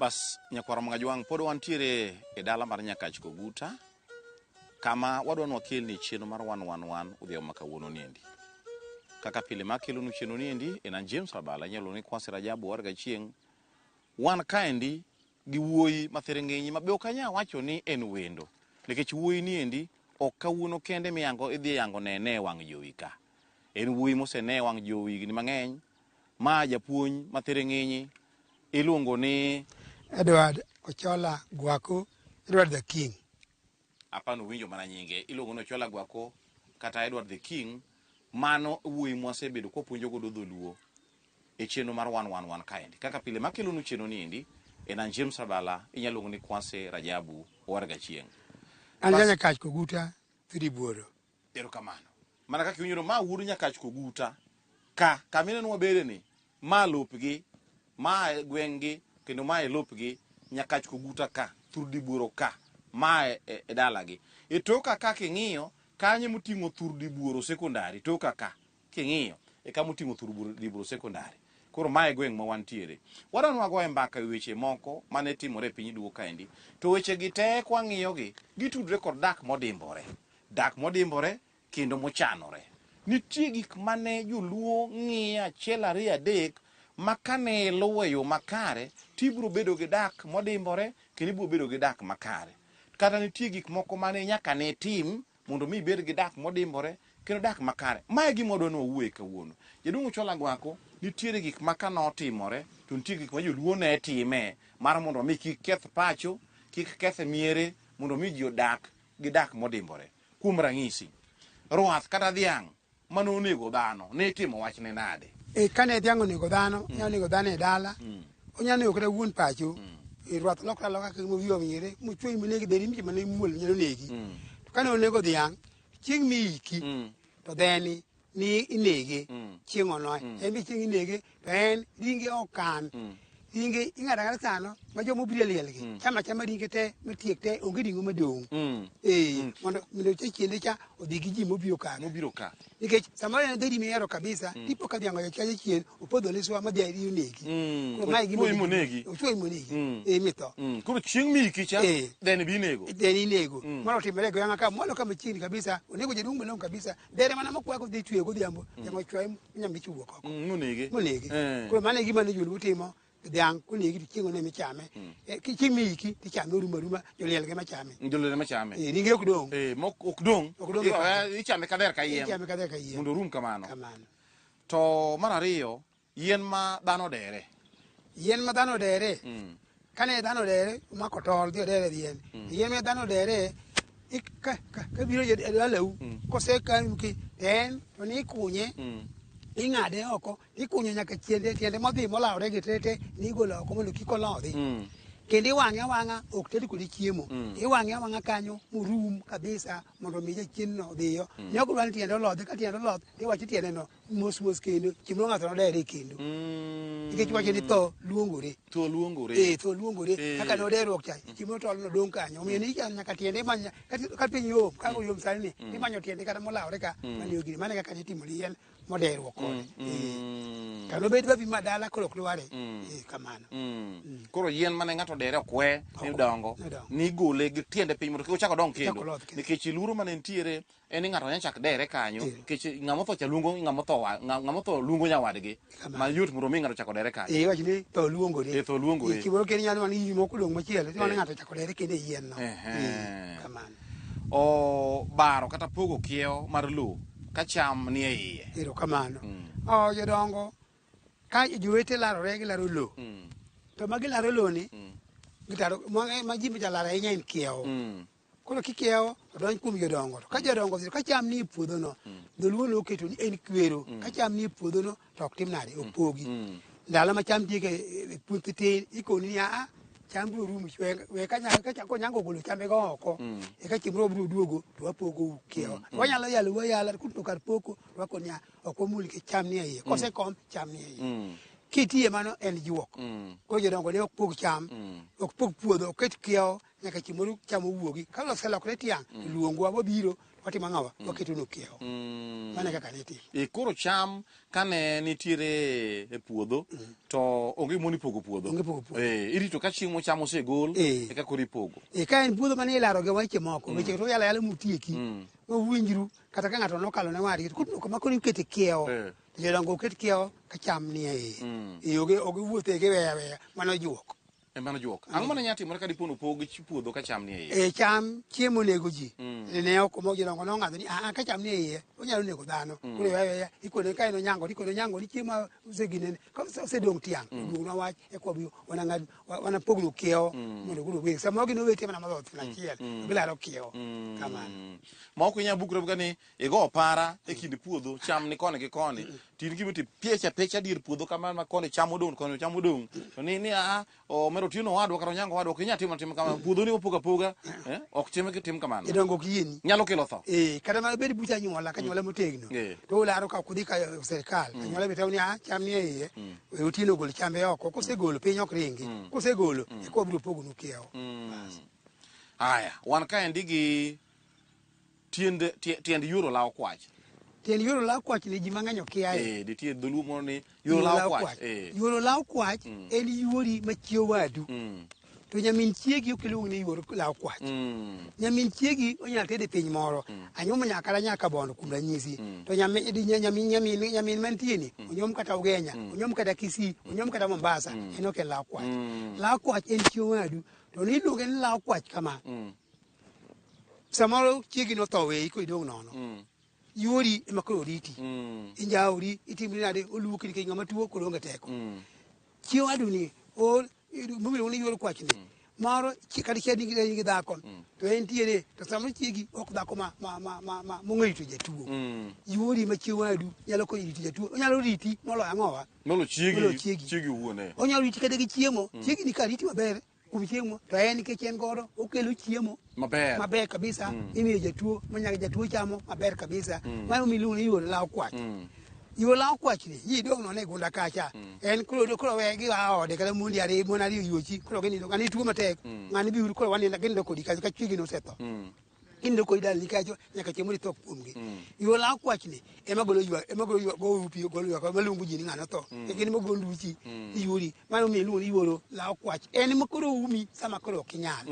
bas nyakwaro magajwang' pod wantiere e dala mar nyakach koguta kama wadwa ni wakelni chenro mar wan wan wan odhiambo ma kawuono niendi kaka pile makelonu chenro niendi en an james rabala inyalo ni kwasi rajabu warga chieng' Wan kaendi gi wuoyi ma thiring'inyi ma be ok anyal wacho ni en wendo nikech wuoyi ni endi ok kawuono kende miyango idhi yango nene e wang' jowi ka. En wuoyi mosene e wang' jowi higni mang'eny. Ma japuonj ma thiring'inyi iluongo ni. Edward Ochola Gwaku, Edward the King. Apa ni uwinjo mana nyinge, iluongo ni Ochola Gwako kata Edward the King. Mano e wuoyi mwasebedo kwapuonjo godo dholuo e chenro mar wan wan wan kaendi. Kaka pile makelonu chenro ni endi en an James Rabala, inyalo luongo ni Kwase Rajabu, owarga chieng'. An Bas- Janyakach Koguta Thidi Buoro. Erokamano. Mana kaka iwinjono, ma wuod Nyakach Koguta ka, kama ineno wabede ni, ma lopgi, ma e gweng'gi kendo ma e lopgi, Nyakach Koguta ka, Thur Dibuoro ka, ma e, e, e dalagi. E toka ka king'iyo, kanyo emoting'o Thur Dibuoro Sekondari, toka ka. King'iyo e kama oting'o thur bur Libro Secondary, koro ma e gweng' ma wantiere. Wadwani wagoye mbaka e wi weche moko ma ne timore e piny Duo kaendi. To wechegi te kwang'iyogi, gitudre kod dak modimbore. Dak modimbore kendo mochanore. Nitie gik ma ne Joluo ng'iyo achiel ariyo adek ma ka ne iluwo e yo makare to ibiro bedo gi dak modimbore kendo ibiro bedo gi dak makare. Kata nitie gik moko ma ne nyaka ne itim mondo mi ibed gi dak modimbore kendo dak makare. Ma e gima wadwa ni wawuoye kawuono. Jaduong' Ochola Agwako, nitiere gik ma ka notimore to nitie gik ma joluo ne time mar mondo mi kik keth pacho, kik keth miere mondo mi ji odak gi dak modimbore. Kuom ranyisi, ruath kata dhiang' ma nonego dhano ne itimo wachne nade? E, kane dhiang' onego dhano, mm. onego dhano e dala, mm. onyalo nego kata wuon pacho, mm. e, rwath lokra loka kaka mowiyo mire, mochwe minegi dheri mche mane muol nyalo negi. Mm. To kane onego dhiang', chieng' miiki, mm. to dheni ni inege, mm. chieng' onoe, mm. en be chieng' inege. en ringe okan ringe ing'ado ang'ada sano ma joma obiro e lielgi chama chama ringe te matiek te onge ring'o madong' Mm. ee mondo mondo cha chiende cha odhi gi ji mobiro kano Mobiro ka. nikech samoro en dheri mihero kabisa tipo ka dhiango chaje chien opodho liswa ma dhiari onegi Mm. Koro mae gima Ochuoyi monegi. ochuoyi monegi Mm. ee mitho Mm. Koro chieng' miki cha Eh. then binego. then inego moro otimore e gweng'a ka mwalo ka machiegni kabisa onego jaduong' malong'o kabisa Dere mana mokwa kodhi chwe godhiambo, mm. jamo chwe nyambichi wuok oko. Mm, monege. Monege. Eh. Koro mano e gima ne joluo timo dhiang' konegi to chieng' one michame hmm. eh, chieng' miiki tichame oruma ruma joliel ge machame joliel ema chame eh, ringe ok dong' eh, ok dong' ichame kader ka yiem ichame kader ka yiem mondo orum kamano kamano to mar ariyo Yien ma dhano odere. Yien ma dhano odere. Mm. Kane dhano odere, mako tol dhi odere yien. Mm. Yien ma dhano odere, ka biro e dalau, mm. kose kanuki, en, to ni ikunye, mm. ing'ade oko, ikunye nyaka tiende, tiende modhi molawre gi tete, ni igolo oko mondo kik olodhi. Mm. kendo iwang'e awang'a ok ted kode chiemo mm. iwang'e awang'a kanyo morum kabisa mondo mi jachien no dhiyo mm. ne ok dwa ni tiende olodhe ka tiende olodh iwacho tiende no mos mos kendo chieng' ng'ato nodere e kendo mm. nikech wacho ni tho luongore tho luongore eh tho luongore eh. kaka ne oderruok cha mm. chieng' tol no dong' kanyo omiyo ni nyaka tiende imanya ka piny yom ka oyom sani ni imanyo tiende kata molawore ka mane ogire mane kaka ne timoni yien modeyruo kode mm, eh. mm. kano bed babi ma dala koro ok dware mm. eh, kamano koro yien mane ng'ato dere ok we ni dongo nigole gi tiende piny mondo kik ochak odong kendo nikech luoro mane nitiere en ni ng'ato nyachak dere kanyo eh. nikech ng'ama otho cha luongo ng'ama otho ng'ama otho luongo nyawadgi ma yot mondo mi ng'ato chako dere kanyo eh wach ni tho luongore eh tho luongore kiboro ken nyalo man yimo kulong machielo to ng'ato chako dere kende yien no kamano obaro kata pogo kiewo mar lowo ka cham nie iye. Ero kamano. Mm. Oh, jodongo, ka jowete larore gilaro lowo, mm. to ma gilaro lowo ni, mm. gitaro, ma, eh, ma ji ma jalaro ahinya en kiewo. Mm. Koro kikiewo, odonj kuom jodongo. To ka jodongo, ka cham nie puodhono, mm. dholuo noketo ni en kwero. Mm. Ka cham nie puodhono, to ok tim nade opogi mm. ndalo ma cham diege e, e puothi tin ikoni niya a cham biro rumo we konyango golo chambego oko mm. eka chieng' moro biro duogo to wapogo kiewa mm, wanyalo yalo wayala kuto kar poko to wako niya ok wamul ke cham ni eiye kosekom cham ni eiye kitiye mano en juok koro jodongo ne ok pog cham ok pog puodho oket kiewo nyaka chieng' moro cham owuogi ka loselokre tiang' to luongwa wabiro watimo ang'owa waketo nokiewo mano e kaka ne itimo E koro cham kane nitiere e puodho to onge moni pogo puodho. Onge pogo puodho. Eh, irito ka chieng' mo cham osegol Eh. eka koro ipogo. e ka en puodho mane ilaro gi weche moko weche to yala yala mutieki ma winjru kata ka ng'ato nokalo ne wadgi to koro kama koro ikete kiewo Eh. to jodongo oket kiewo ka cham nie iye e oge oge wuothe giweya weya mano juok E mano juok. Ang'o mane nyalo timore ka dipo nopog ch- puodho ka cham nie iye? e cham chiemo nego ji ne ok omo jodongo nong'ado ni aa ka cham nie iye onyalo nego dhano koro yaya ikone ka en onyango ikone onyango ni chiemo ma oseginene ka ose- osedong' tiang' oduogna wach e kwa biyo wana ng'ad wa- wana pogno kiewo mondo koro weg sama gin owete mana madhoth na achiel bilaro kiewo kamano Mm. Ma ok inyal bukre ka ni igo opara e kind puodho cham ni koni gi koni to in kibiti piech apiech adier puodho kamano ma koni cham odong' koni cham odong' to ni ni a omero tieno wadwa kata onyango wadwa ok inyal timo tim kamano puodho ni opoga poga eh, ok tim tim kamano idongo ok yieni nyalo kelo tho eh kata mana bed bucha anyuola ka nyuola motegno Eh. to ularo ka kudhi ka serikal anyuola be tawni ah cham ni e iye we otieno gol chambe oko kosegolo piny ok ringi kosegolo eko wabiro pogonu kiewo haya wan kaendi gi Tiend, tie- tiend yuro lawo kwach. Tiend yuro lawo kwach ni ji mang'eny okiaye. Eh, nitie dholuo moro ni yuro lawo kwach. Eh. Yuro lawo kwach en yuori ma chie wadu. Mm. To nyamin chiegi ok iluong ni yuor lawo kwach. Mm. Nyamin chiegi onyalo tede piny moro. Anyuomo nyakala nyaka bondo kuom ranyisi. To nyamin di- nya- nyamin nyamin nyamin mantie ni onyuom kata Ugenya, onyuom kata Kisii, onyuom kata Mombasa, en ok en lawo kwach. Lawo kwach en chie wadu. To ni iluonge ni lawo kwach kama. samoro chiegi notho weyi koro idong' nono Mm. yuori ema koro riti Mm. injaori itimri nade oluoki nikech ng'ama tuo koro onge teko Mm. chieng' waduni or mobiro ni yuor kwachni moro chi- kata chieng' nigi nigi dhako to en tiere to samoro chiegi ok dhako ma ma ma ma ma mong'e rito jatuo Mm. yuori ma chieng' wadu nyalo konyo rito jatuo onyalo riti moloyo ang'owa Molo chiegi Molo chiegi. chiegi wuon eh. onyalo riti kata gi chiemo chiegi ni ka riti maber kuom chiemo to en nikech en godo okelo chiemo Maber. maber kabisa mm. imiyo jatuo manyaka jatuo chamo maber kabisa mm. mano miluongo ni yuol law kwach mm. yuol law kwach ni ji dong' none gunda kacha mm. en koro koro we gi a ode kata mondi ariyo mon ariyo yuochi koro ginindo ng'ani tuo matek mm. ng'ani biuru koro wanindo ginindo kodi kacha ka chwigi nosetho mm. in doko idal ni kacho nyaka chieng' mori tho kuomgi yo la kwach ni ema golo ywa ema golo ywa go upi golo ywa ko malungu ji ni ng'ano tho e kini mogo nduchi iyuri mano mi luwo iworo la kwach en ma koro umi sama koro ok inyal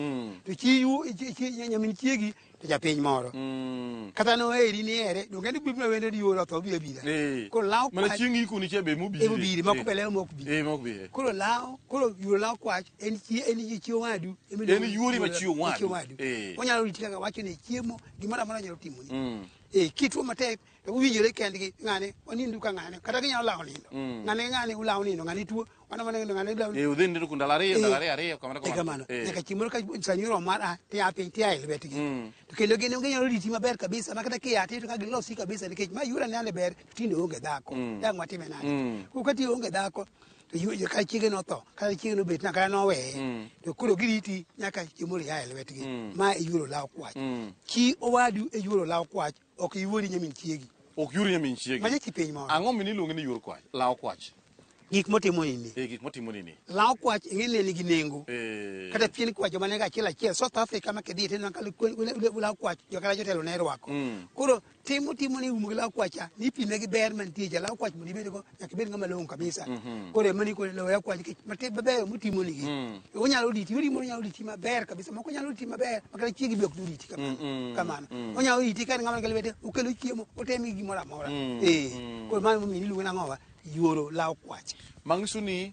to chi yu chi- chi- nyamin chiegi to japiny moro Mm. kata no eri ni ere donge ni bibna wende yoro tho bi abira Eh. koro la Mana kwach chieng' ikuni cha be mobire. emo bire moko Eh. pele moko bi Eh, mok bi. eh. koro la koro yuro la kwach en chi- en ji chi owadu ema iluongo En ni yuori ma chi owadu. chi owadu Eh. onyalo riti kaka wacho ni chiemo gimoro amora nyalo timoni Mm. eh kituo matek to uwinjore kendgi ng'ane wanindu ka ng'ane kata ginyalo lawo nindo Mm. ng'ane ng'ane ulawo nindo ng'ane tuo wana wana nindo ng'ane ulawo Eh, udhi nindo kuom ndalo ariyo, ndalo ariyo, ariyo, kamano, kamano. kamano Eh. nyaka chieng' moro ka sanyoro mar a tia piny tia e lwetgi Mm. to kendo gin onge nyalo riti maber kabisa ma kata kia ti to ka gilosi kabisa nikech ma yura ne ane ber tinde onge dhako Mm. dang' watime nade Mm. ko ka ti onge dhako to yuoje ka chiege notho kata chiege nobet na kata noweye mm. to koro giriti nyaka chiemo ria e lwetgi mm. ma iyuoro law kwach mm. chi owadu e yuoro law kwach ok iwuori nyamin chiegi ok yuori nyamin chiegi maja chi piny moro ang'o mini iluonge ni yuor kwach law kwach gik motimo nini eh, gik motimo nini law kwach ing'e ne nigi nengo eh. kata pien kwach joma ne ga achiel achiel south africa ma kidhi tineno ka law kwach jokala jotelo ne rwako mm. koro tim mutimo ni umo gi law kwacha ni pime gi ber mantie ja law kwach mondo ibed go nyaka ibed ng'ama long'o kabisa mhm. koro ema ni koro law ya kwach kech mate mabeyo mutimo ni gi mm. e onyalo diti yori mo onyalo diti maber kabisa moko nyalo diti maber makata chiegi bok diti kamano mm, mm, kamano onyalo diti kan ng'ama kelwete okelo chiemo otemi gi mora mora eh koro mano mo mini luwena ngowa yoro law kwach mang'isuni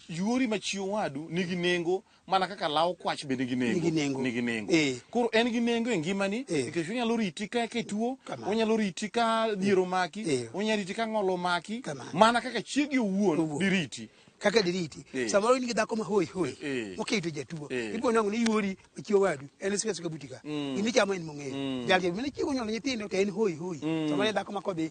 yori machiwo wadu nigi nengo mana kaka law kwach bende nigi nengo Nigi nengo. nigi nengo Eh. koro en gi nengo e ngimani Eh. nikech onyalo riti ka ka ituo Kamano. onyalo riti ka dhier omaki Eh. onyalo riti ka ng'ol omaki Kamano. mana kaka chiegi owuon Owuon. diriti kaka diriti Eh. samoro in gi dhako ma hoi hoi Eh. moketo jatuo Eh. ibo nang'o ni yuori ochiewo wadu en suka suka butika gimichamo en mong'eyo jal jal mane chiego nyuolo nyithindo to en hoi hoi samoro en dhako ma kodhi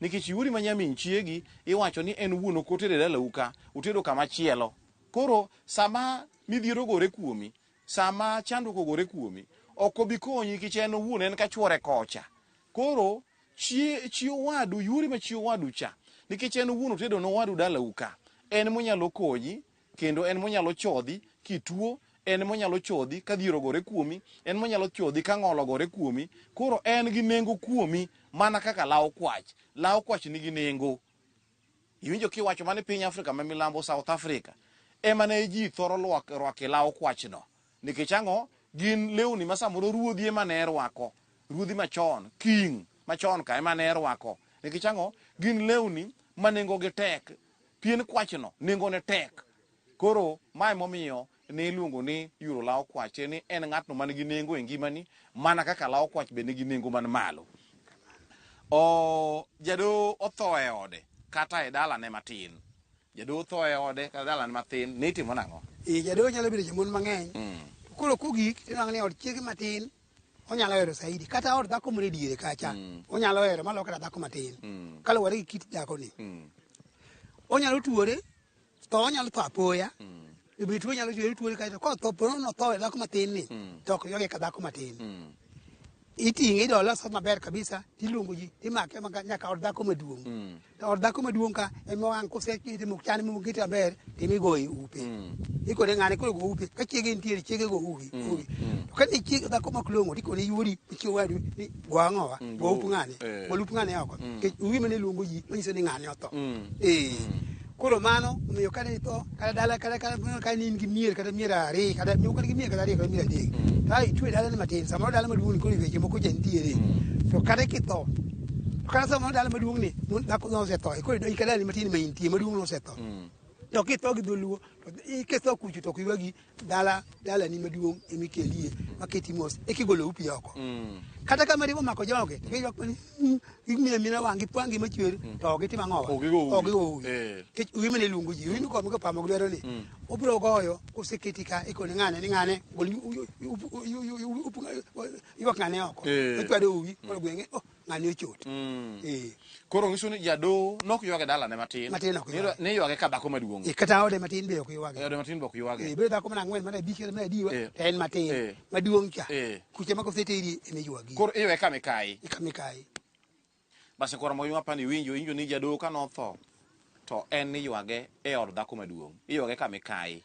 Nikech iori ma nyamin chiegi iwacho ni en wuon ok otere dalau ka, otedo kama chielo. Koro sama midhiero ogore kuomi, sama chandruok ogore kuomi, ok obi konyi nikech en owuon en ka chuore kocha. Koro chi, chi owadu, yuori ma chi owadu cha nikech en owuon otedo ne owadu dalau ka, en monyalo konyi Kendo en monyalo chodhi kituo, en monyalo chodhi ka dhier ogore kuomi, en monyalo chodhi ka ng'ol ogore kuomi. Koro en gi nengo kuomi mana kaka law kwach. Law kwach nigi nengo. Iwinjo kiwacho mani piny Afrika ma milambo, South Africa, ema ne ji thoro rwake law kwachno. Nikech ang'o? Gin lewni ma samoro ruodhi ema ne rwako. Ruodhi machon, king machon ka ema ne rwako. Nikech ang'o? Gin lewni ma nengogi tek. Pien kwachno nengone tek. Koro ma emomiyo ne iluongo ni yuro law kwach, tiende ni en ng'atno man gi nengo e ngimani, mana kaka law kwach be nigi nengo man malo. O, jadoho otho e ode kata e dalane matin. Jadoho otho e ode kata dalane matin, ne itimo nang'o? Ee, jadoho nyalo bedo jamon mang'eny. Mm. To koro kogik, tinwang'o ni od chiege matin onyalo hero saidi kata od dhako moro e diere kacha mm. onyalo hero malo kata dhako matin mm. kaluwore gi kit dhakoni mm. onyalo tuore to onyalo tho apoya ibi tuo nyalo tuore tuore kae to kotho pono notho e dhako matin ni to ok yoge ka dhako matin iting'e idole osot maber kabisa tiluongo ji imake nyaka od dhako maduong' Or dhako maduong' ka ema wang' kose kete mok chane mok kete maber timi goyi upe. Mm. Ikone ng'ane koro go upe. Ka chiege nitiere chiege go uwi. Mm. uwi. Mm. To ka ni chiege dhako mak long'o tikone yuori chiege wadu ni go ang'owa mm. go up ng'ane. Eh. Go up ng'ane oko. Mm. Ke uwi mane luongo ji manyiso ni ng'ane otho. Mm. Eh. Mm. Koro mano omiyo ka ne itho kada dala kada kada kuna kai ni ngi mier kada mier are kada mi kada mier kada are kada mier dik tai tu dala ma tin sama dala ma duun ko ni ke mo ko jen tiere to kada ki to kada sama dala ma duun ni mun da ko no se to ko do kada ni ma tin ma inti ma duun no se to to ki to gi dulu to i ke to ku to ki wagi dala dala ni maduong' ema ikelie maketi mos eka igolo upi oko mm. kata ka mari omako joge to giyok mani hmm, ging'iyo amina wang' gipwangi machwer mm. to ok gitim ang'o ok gigowi eh. nikech uwi mane luongo ji uwi nokome kopamo gi lwedo ni mm. obiro goyo koseketi ka ikone ng'ane ni ng'ane gol ywak ng'ane oko eh. ochwado uwi koro gweng'e oh. ng'ani ochot mm. eh. koro ngiso ni jado nok ywage dalane matin matin ok ywage ne ywage ka dhako maduong e kata ode matin be ok ywage ode matin be ok ywage e be dhako mana ngwen mana bi kere mana diwa eh. en matin eh. maduong cha eh. kuche mako sete iri e me ywagi koro iwe ka me kai e ka me kai basi koro mo ywa pani winjo injo ni jado ka no tho to en ni ywage e od dhako maduong ywage ka me kai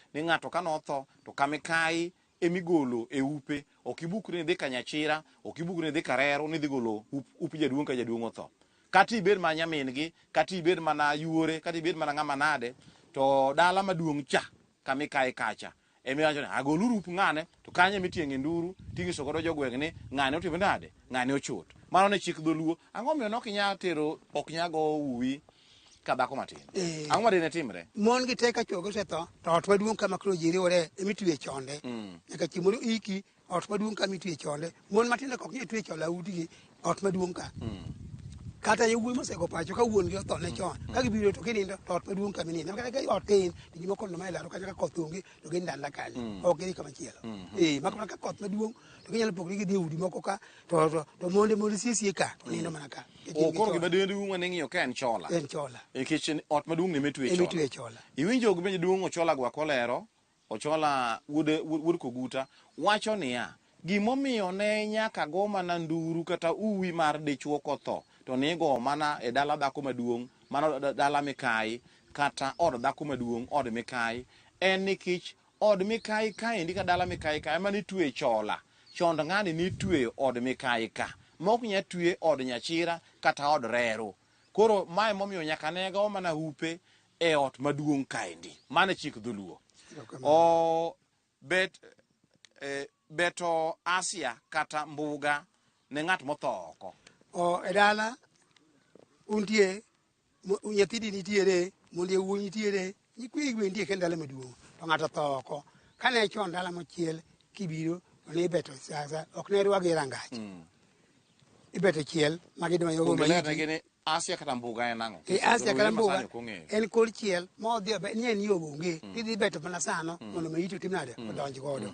ni ng'ato ka notho to kamikayi emigolo e upe ok ibukri ni dhi ka nyachira ok ibukri ni dhi ka reru ni dhi golo up, up jaduong' ka jaduong' otho kata ibed mana nyamin gi kata ibed mana yuore kata ibed mana ng'ama nade to dala maduong' cha kamikayi kacha emiwacho ni agoluru up ng'ane to kanyo emitienge nduru tinyiso godo jogweng' ni ng'ane otimo nade ng'ane ochot mano ne chik dholuo ang'o miyo nokinya tero ok nyago uwi ka dhako matin eh. ang'o madine timre mon gi teka chuo gosetho to ot maduong' kama koro ji riwore emitwe chonde mm. nyaka chieng' mondo iki ot maduong' kama itwe chonde mon matindo kok nyal twe chonde audigi ot maduong' ka mm. kata yawuoyi mosego pacho ka wuon gi otho ne mm. chon ka gibiro to kinindo to ot maduong' kama nindo kata ka ot tin to ji moko noma elaro kata ka koth onge to gindanda kanyo ok gidhi kama chielo ee maka mana ka koth maduong' to ginyalo pogore gidhi e udi moko ka to to to monde monde sie sie ka nindo mana ka Oh, koro gima dende duong' ane ng'iyo ka en chola en chola nikech en ot maduong' ne metwe emi tue chola chola iwinjo gi penjo duong' ochola gwa kolero ochola wuod wuod wuod koguta wacho niya gimomiyo ne nyaka go mana nduru kata uwi mar dichwo kotho to nigo mana e dala dhako maduong' mano da- dala mikayi kata od dhako maduong' od mikayi en nikech Od mikayi kaendi ka dala mikayi ka ema nitweye chola. Chond ng'ani nitweyo od mikayi ka. Ma ok nya twe od nyachira kata od reru. Koro ma emomiyo nyaka ne go mana hupe e ot maduong' kaendi. Mano e chik dholuo. Erokamano. Ooh, bet, eh, Beto Asia kata Mbuga ne ng'at motho oko. O, e dala untie nyathidi nitiere mondi e wuoyi nitiere nyikwegi be nitie kendo dala maduong' to ng'ato otho oko kane chon dala mochiel kibiro to ne ibeto siasa ok ne rwagi rangach mm. ibete chiel ma gidonjo go Ongelea maiti. gini Asia kata mbuga en ang'o? E Asia kata mbuga Masani ok ong'eyo. en kor chiel ma odhi obe- ni en yo onge idhi beto mana sano mondo maiti otim nade odonj godo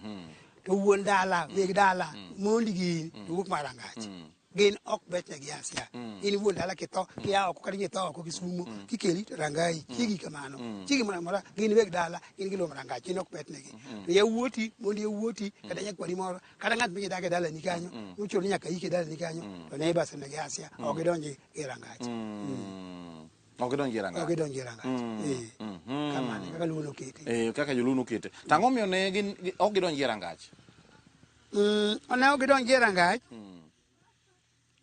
to wuon dala weg dala mondi gi in to wuok mar angach gin ok betne gi asia in wuon dala kitho kia oko kata kitho oko gi sumo kikeli to rangai chigi kamano chigi mora mora gin weg dala gin giluwo mar angach gin ok betnegi to yawuoti mondi yawuoti kata nyakwari moro kata ng'at migi dak e dalani kanyo uchuno ni nyaka yike dalani kanyo to neiba semege asia ok idonji e rangach Mm. Ok idonj e rangach. ok idonji e rangach Mm. Eh. Mhm. kamano kaka luo nokete Eh, kaka joluo nokete to ang'o miyo ne gin gi- ok gidonj e rangach Mm, ne ok idonji e rangach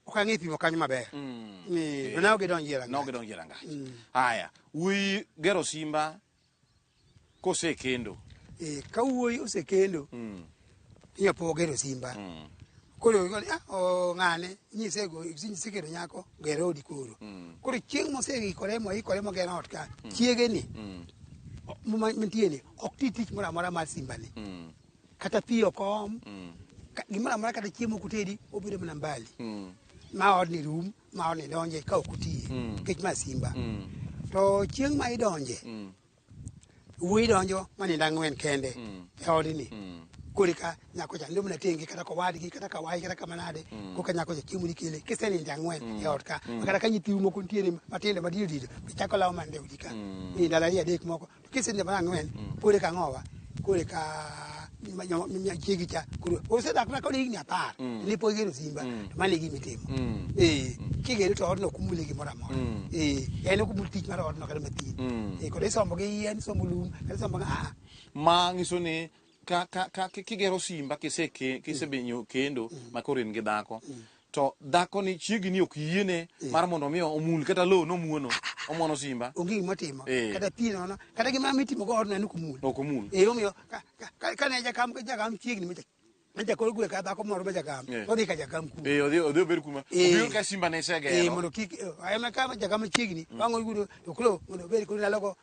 ok ang'e pimo kanyo maber Mm. Eh, to ne ok idonji e ne ok rangach gidonj e rangach haya wuyi gero simba Kosekendo. Eh, ka wuoyi osekendo mm. inya po gero simba mm. koro igoni ah, oh, ng'ane nyise go nyise kendo nyako gero odi koro mm. koro chieng' moseikore moikore mogero ot ka mm. chiege ni mm. mantie ni ok ti tich moro amora mar simba ni mm. kata pi ok om mm. gimoro amora kata chiemo kutedi obedo mana mbali mm. ma odni rum ma on idonje ka ok otiye Mm. nikech ma simba Mm. to chieng' ma idonje Mm. wuoyi donjo ma nindo ang'wen kende Mm. e odni Mm. korika nyako cha ndomna tenge kata kowadgi kata kawayi kata kamanade koka nyako cha chiemo nikele kisenindo ang'wen e ot ka kata ka nyithiu moko nitiere matindo madiyo dido bichako lawo mande udi ka Mm. nindo alali adek moko Kisenja mar ang'wen mm. kore ka ng'owa kore ka chiegi cha koro osedak na kode higni apar mm. ne pok igero simba mm. to mano e gima itimo mm. eh, kigere to odno ok umule gimoro amora eh, en ok umul tich mar odno kata mathin eh, kod isombo gi yien isombo lum kata isombo aa ah, ah. ma ng'iso ni ka, ka, ka ki- kigero simba kise ke- kisebenyo kendo ma koro in gi dhako to dhako ni chiegi ni ok yiene mar mondo mi omul kata lowo nomuono omuono simba onge gima otimo Eh. kata pi nono kata gima mitimo go odno en ok omul ok omul e omiyo ka- ka- ka- kane jakam jakam chiegni macha macha koro gwe ka dhako moro ma jakam Eh. odhi ka jakam ku Eh, odhi odhi obed kuma Eh. obiro ka simba ne Eh, isegero mondo kik ayona ka jakam chiegni bang' oyudo to koro mondo obed koro ndalogo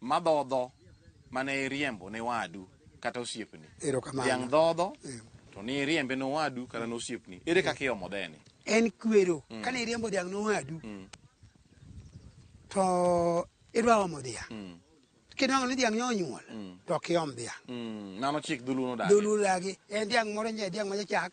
madhodho mane iriembo ne wadu kata osiepni Erokamano. dhiang' dhodho Eh. to ni iriembe ne wadu kata ne osiepni ere kaka iomo dheni en kwero kane iriembo dhiang' nowadu to idwa omo dhiang' kinwang'o ni dhiang' nyonyuol to ok iom dhiang' Mm, mano chik dholuo nodagi dholuo dagi en dhiang' moro nye dhiang' machachak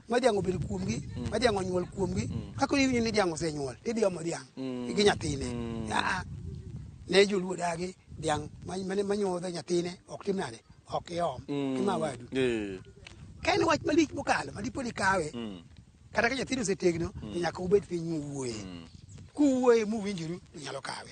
ma dyang obedo kuomgi mm. ma dyang onyuol kuomgi mm. kaka iwinjo ni dyang osenyuol idiomo dyang mm. gi nyathine aa ne joluo dagi dyang mane manyuodho nyathine ok tim nade ok iom kima wadu ka en wach malich mokalo madipo ni kawe kata ka nyathino osetegno to nyaka ubed piny muwuoye kuwuoye muwinjoru to nyalo kawe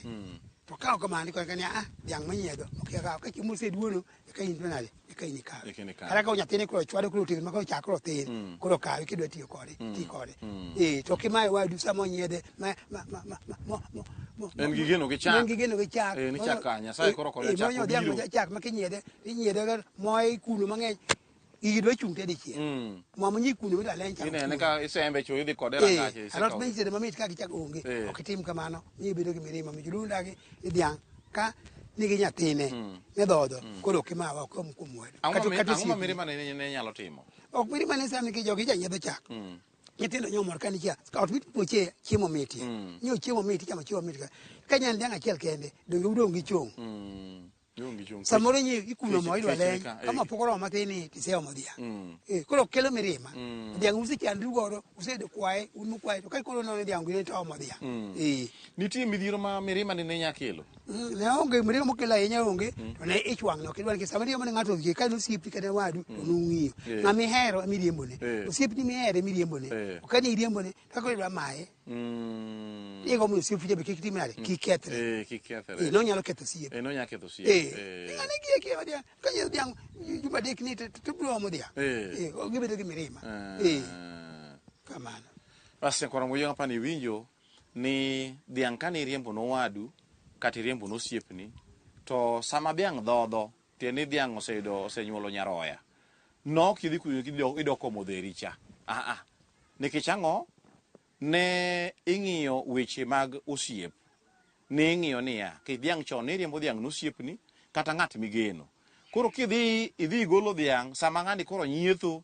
to ka ok kamano koni kani a ah, dyang manyiedho ok ka chiemo oseduono eka in to nade eka in ikawe Eka in ikawe. kata ka nyathini koro chwado koro otegno ma koro chak koro thin koro kawe kidwa tiyo kode ti kode eh to kimaye wadu sama onyiedhe ma ma ma ma ma- mo- mo- mo- En gi geno gi chak. en gi geno gi chak Eh, ni chak ka, Nyasaye koro kore Eh, eh, chak moyo dhiang' obiro. ma chak ma kinyiedhe inyiedhe moye kuno mang'eny Igi dwa chung' te dichiel. Mm. Mwamo nyi kuno wita len chamo. Inene ka isembe chu idhi kode rangach. Eh, alot benji de mamit ka gichak onge. Eh. Ok itim kamano. Nyi bedo gi mirima mi julu ndagi idhiang ka nigi nyathine mm. ne dhodho mm. koro ok imawa ok om kuom wedo. Ang'o ma mirima ne nyalo timo? Ok mirima ne sami ki jogi janyiedho chak. Mm. nyithindo nyomor ka nikia ot mit puoche chiemo miti mm. nyo chiemo miti chamo chiemo miti ka nyan dhiang achiel kende donge udong gi chung mm. samoro nyi ikuno mo idwa leny kama pok oromo matin ni tiseomo dhiang' mm. eh, koro kelo mirima mm. dhiang' usechandru godo usedo kwaye un mukwaye to ka koro nono dhiang' gine to omo dhiang' mm. eh. nitie midhiero ma mirima ni ne nya kelo ne onge mirima mokelo ahinya onge to ne ich wang' no kidwa nikech sama riembo ne ng'ato odhie ka nosiepi kata wadu to nung'iyo eh. ng'ama ihero emiriembone osiepni mihero emiriembone okani iriembone to kaka idwa maye Mm. Ye gomo si fuje be kik timi nade? Kik kethre. Eh, kik kethre. Eh, no nyalo ketho sie. Eh, no nyalo ketho sie. Eh. Eh. Ngane gi eki wadia. Ka ye diang juma dek ni to to bro mo dia. Eh. Eh, o gibedo gi mirima. Eh. Kamano. Basi kwa ngoyo hapa ni winjo ni diang kani riembo no wadu kati riembo no siepni to sama diang dhodho Tiendeni dhiang' oseyudo osenyuolo nyaroya. No kidhi kuyo kido idok komo dheri cha. Ah ah. Nikech ang'o? Ne ing'iyo weche mag osiep. Ne ing'iyo niya, kech dhiang' chon ne iriembo dhiang' nosiepni kata ng'at migeno. Koro kidhi idhi igolo dhiang' sama ng'ani koro nyietho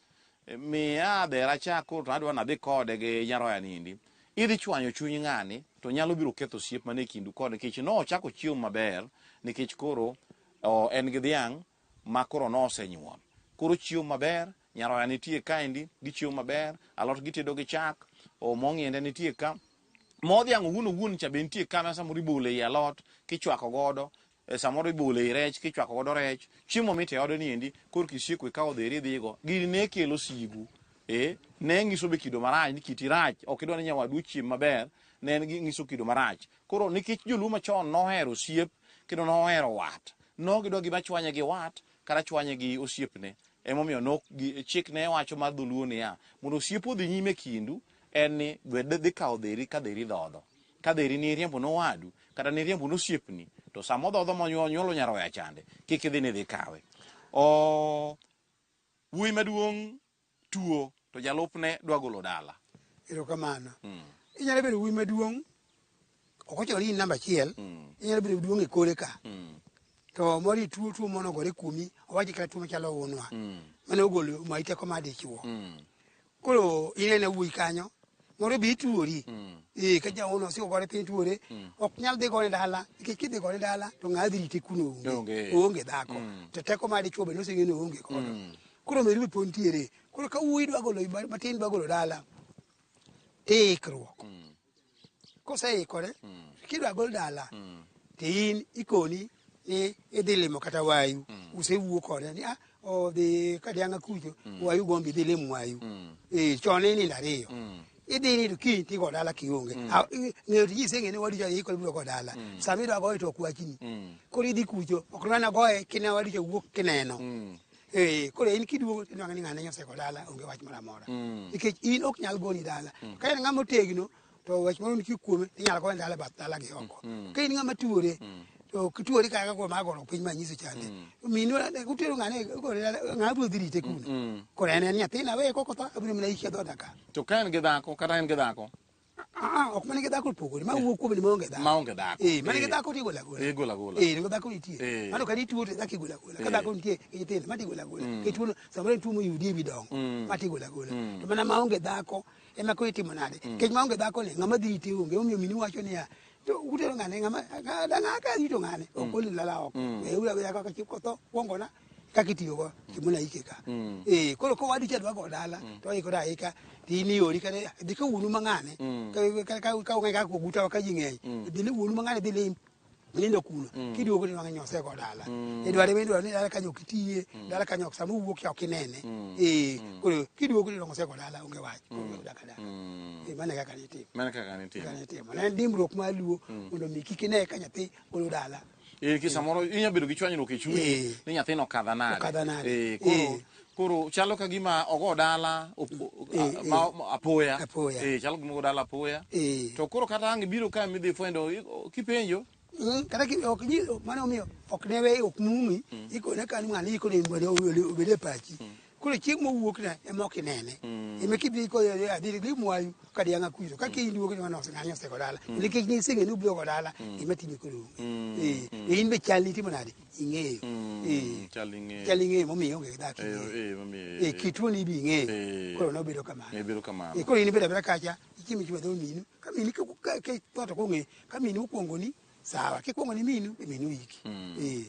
Miya adhera cha koro to adwa nadhi kode gi nyaroya nindi. Idhi chwanyo chuny ng'ani to nyalo biro ketho osiep mane kindu kode nikech nochako chiemo maber nikech koro o, en gi dhiang' ma koro nosenyuol. Koro chiemo maber, nyaroya nitie kaendi, gichiemo maber, alot gitedo gi chak, o, mo ng'inde nitie ka, mo dhiang' owuon owuon cha be nitie ka ma samoro ibolo ei alot kichwako godo E samoro ibole i rech kichwako godo rech chiemo mit e ode ni endi kor kisieko ikawo dheri idhigo gini ne kelo sigu e ne ngiso be kido marach ni kiti rach ok idwa ni nyawadu ochiem maber ne en ngiso kido marach koro nikech joluo machon nohero osiep kendo nohero wat no gidwa gima chwanye gi wat kata chwanye gi osiepne emomiyo nok chik ne wacho mar dholuo niya mondo osiep odhi nyime kindu en ni dhi kawo dheri ka dheri dhodho Ka dheri ni iriembo ne owadu kata ni iriembo ne osiepni to sama odhodho monyuolo nyaroya chande kik idhi ni idhi kawe. Oh, wuoyi maduong' tuo to jalupne dwa golo dala. Erokamano. Mm. Inyalo bedo wuoyi maduong' ok ochuno ni in namba achiel. Mm. Inyalo bedo duong' e kole ka. Mm. To moro ituo tuo mono gore kuomi owachi kata tuo machalo unwa. Mm. Mane ogolo ma iteko ma dichuo. Mm. koro inene wuoyi kanyo moro be ituori mm. ee ka jaono osiko gore piny tuore mm. ok nyal dhi gone dala nikech kidhi gone dala to ng'a dhi rite kuno onge oonge dhako mm. to teko ma dichuo be noseng'e ni oonge kodo mm. koro meru be pod ntiere koro ka wuoyi dwa golo matin dwa golo dala tiikruok mm. Koseikore, mm. kidwa gol dala, mm. to in ikoni ni idhi limo kata wayu, mm. usewuo kode ni ah, odhi kadianga kucho, mm. wayu gombi dhi limo wayu. Mm. E, chon ni nindo ariyo. Mm. idhi ni to kiny tigo dala kionge mm. ng'eyo tiji iseng'e ni wadicha yiko ibiro go dala mm. sama idwa goye to ok wachni mm. koro idhi kucho ok nwana goye kine wadicha wuok kineno Eh, koro in kiduogo tinwang'e ni ng'ane nyoseko dala onge wach moro amora Mm. nikech in ok nyal goni dala Mm. ka in ng'ama otegno to wach moro nitie kuome inyalo gone dala e bath dala gi oko Mm. ka in ng'ama tuore Mm. to kituori kaka kuom agoro piny ma nyiso chande Mm. minu utero ng'ane igone dala ng'ama biro dhi rite kuno Mm. koro en en nyathina weye kokotho abiro mana ikia dhoda ka To ka en gi dhako kata en gi dhako Ah, ok mana gi dhako opogore ma wuok kuom ni maonge dhako maonge dhako eh mana gi eh. dhako tigola gola eh gola gola eh nego dhako nitie eh. mano ka nituo to dhako igola gola ka eh. dhako nitie e nyithindo ma tigola gola mm. ke tuo samoro tuo mo yudi bi dongo mm. ma tigola gola mm. to mana maonge dhako ema ko itimo nade kech maonge dhako ni ngama dhi ite onge omiyo mini wacho niya to utero ngane ngama danga ka rito ngane ok olilala oko e ura ya ka chiko to kwongona kaka itiyogo gimona ike ka mm. eh, koro ka wadi chadwa go dala mm. to ikore aika tiniori kata dhi ka wuonu mang'ane mm. ka ung'e kaka ogutawa ka ji ng'eny mm. dhi ne wuonu mang'ane dhi lim nindo kuno mm. kiduogo ni wang'e nyose go dala mm. idware mi idwaro ni dala kanyo ok itiye mm. dala kanyo ok sama uwuok cha ok inene mm. eh, mm. koro kiduogo ni nyose go dala onge wach mm. koro daka dala mm. eh, mane kaka nitimo mane kaka nitimo kaka nitimo ne dimbruok ma luo mm. mondo mi kik ine ka nyathi golo dala Eh, ki samoro inya bedo gi chwanyruok e chunyi Eh. ni nyathino okadha nade. Okadha nade. Eh, koro Eh. koro chalo ka gima ogo dala op- Eh, a- eh. ma- ma- apoya. Apoya. Eh, chalo gima ogo dala apoya. Eh. To koro kata ang' ibiro ka midhi fwendo i- o- kipenjo Mm, kata ki- ok nyi- ok- mano omiyo ok ne we ok mumi ikone kan ng'ani ikone mondo obed e pachi koro chieng' mowuokna ema ok inene mm. ema kidhi koyore adhiri gi mwayu ka dianga kwiro ka kiny duogo ni manose ng'anyo osego dala mm. nikech ni singe ni ubiro go dala mm. ema time koro eh e in be chal ni timo nade ing'eyo eh chal ing'eyo chal ing'eyo momiyo onge dak eh, eh momiyo eh kitu ni bi ing'eyo eh. koro no bedo kamano e bedo kamano e koro in be dabira kacha ichimi chwa dho minu ka mini ka ka ka to ko ng'e ka mini ukwongoni sawa kikwongo ni minu e minu iki mm. eh.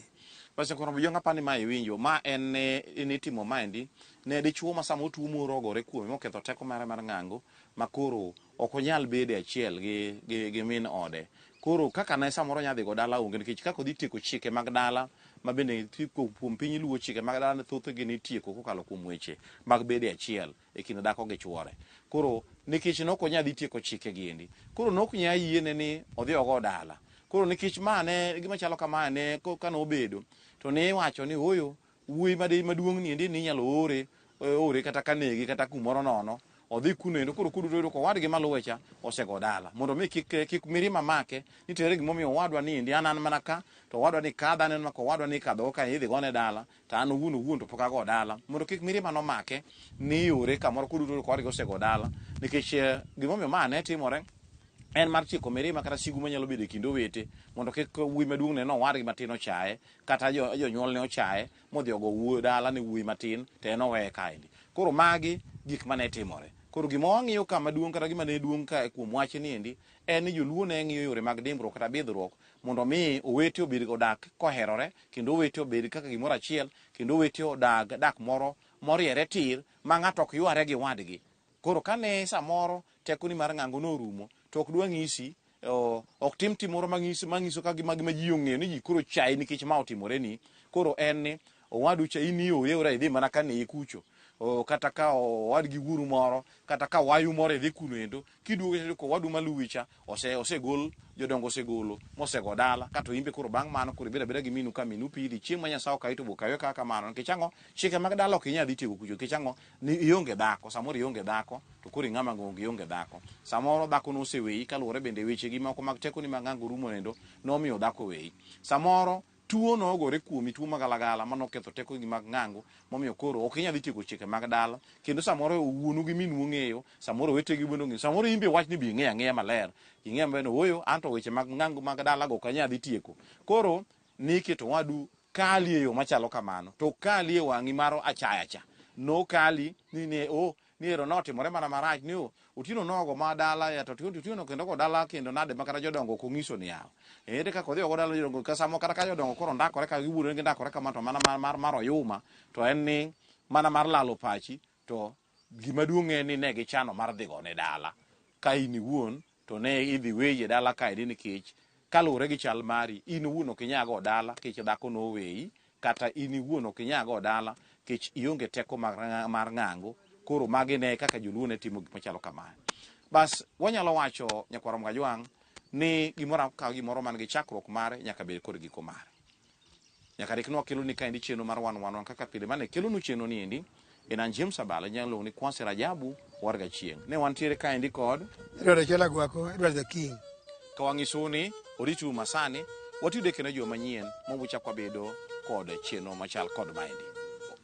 Pastor Koromo Jonga pani ma iwinjo ma en ne ne timo maendi ne dichuo ma sama otuo morogore kuome moketho teko mare mar ng'ango ma koro ok onyal bede achiel gi, gi, gi min ode koro kaka ne samoro nyadhi go dala onge nikech kaka odhi tieko chike mag dala ma bende kuom piny luwo chike mag dala thothgi nitieko kokalo kuom weche mag bede achiel e kind dhako gi chuore. Koro nikech ne ok onya dhi tieko chike gi endi, koro ne ok nya yiene ni odhi ogo dala. Koro nikech ma ne gima chalo kamae ne ka ne obedo to ne iwacho ni ooyo wuoyi ma de maduong' ni endi ni inyalo ore eh, ore kata ka nege kata kumoro nono odhi kuno endo koro kuduto yudo ka owadgi maluwe cha osego dala mondo mi kik eh, kik mirima make ni to ere gimomiyo owadwa ni endi an an mana ka to owadwa ni kadho aneno ka owadwa ni kadho ka idhi gone dala To an owuon owuon to pok ago dala mondo kik mirima nomake ni iore kamoro koduto kodgi osego dala nikech eh, gimomiyo ma ne timore en mar tieko mirima kata sigu manyalo bedo e kind owete mondo kik wuoyi maduong' ne nowadgi matin ochaye kata jo- jonyuol ne ochaye modhi ogo wuoyi dala ne wuoyi matin to en oweye kaendi koro magi gik mane timore koro gima wang'iyo ka maduong' kata gima ne duong' ka kuom wachni endi en ni joluo ne ng'iyo yore mag dimbruok kata bidhruok mondo omi owete obedga odak koherore, kendo owete obed kaka gimoro achiel, kendo owete odag dak moro moriere tir, ma ng'ato ok yware gi wadgi. Koro kane samoro tekoni mar ng'ango norumo, to ok dwa ng'isi, ok tim tim moro manyiso ka gima ji ong'eyo ni ji koro chayi nikech ma otimoreni. Koro en ni Owadu cha in iore ora idhi mana ka nee kucho oh, kata ka owadgi wuoru moro kata ka wayu moro idhi kuno endo kiduogo cha ko wadu maluwi cha ose osegol jodongo osegolo mosego dala kato imbe koro bang' mano koro ibeda beda gi minu ka minu pidhi chieng' ma nyasaye okayo to bokayo kaka kamano nikech ang'o chike mag dala ok inyal dhi tiego kucho nikech ang'o ni ionge dhako samoro ionge dhako to koro ing'ama ng'onge ionge dhako samoro dhako noseweyi kaluwore bende weche gi moko mag tekoni mag ng'ango rumo endo nomiyo dhako weyi samoro Tuo nogore kuomi, tuo magalagala ma noketho tekogi mag ng'ango momiyo koro ok inyal dhi tieko chike mag dala kendo samoro wuonu gi minu ong'eyo, samoro owetegi bende ong'eyo, samoro in be wach ni be ing'eyo ang'eya maler, ing'eyo maber ni ooyo anto weche mag ng'ango mag dalago ok anyal dhi tieko. Koro niketo owadu kali e yo machalo kamano to okali e wang'i mar achayacha, nokali ni ne oh, Miero notimore mana marach ni otieno nogo ma dala ya to otieno kendo go dala kendo nade ma kata jodongo ok onyiso ni yawa ere kaka odhi ogo dala jodongo ka samo kata ka jodongo koro ndakore ka giwuodore gi ndakore kama to mana mar mar mar oyuma to en ni mana mar lalo pachi to gima duong' en ni ne gichano mar dhigo ne dala ka in iwuon to ne idhi weyi e dala kae ni nikech kaluwore gi chal mari in iwuon ok inyag od dala nikech dhako noweyi kata in iwuon ok inyag od dala nikech ionge teko mar ng'ango koro magi ne kaka joluo ne timo gik machalo kamae bas wanyalo wacho nyakwaro mgajwang' ni gimoro ka gimoro man gi chakruok mare nyaka bed kod giko mare Nyaka rik ne wakelo ni kaendi chenro mar wan wanwa kaka pile mane kelo nu chenro ni endi en an James Abala inyalo luongo ni Kwasi Rajabu war ga chieng. Ne wantiere kaendi kod Edward Achola Gwako, Edward the King. Ka wang'isu ni oritu masani watiyo deke ne jo manyien ma wuchak wabedo kod chenro machal kod maendi.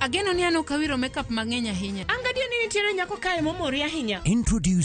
Ageno ni an ok awiro makeup mang'eny ahinya. An gadier ni nitiere nyako kae momori ahinya. Introducing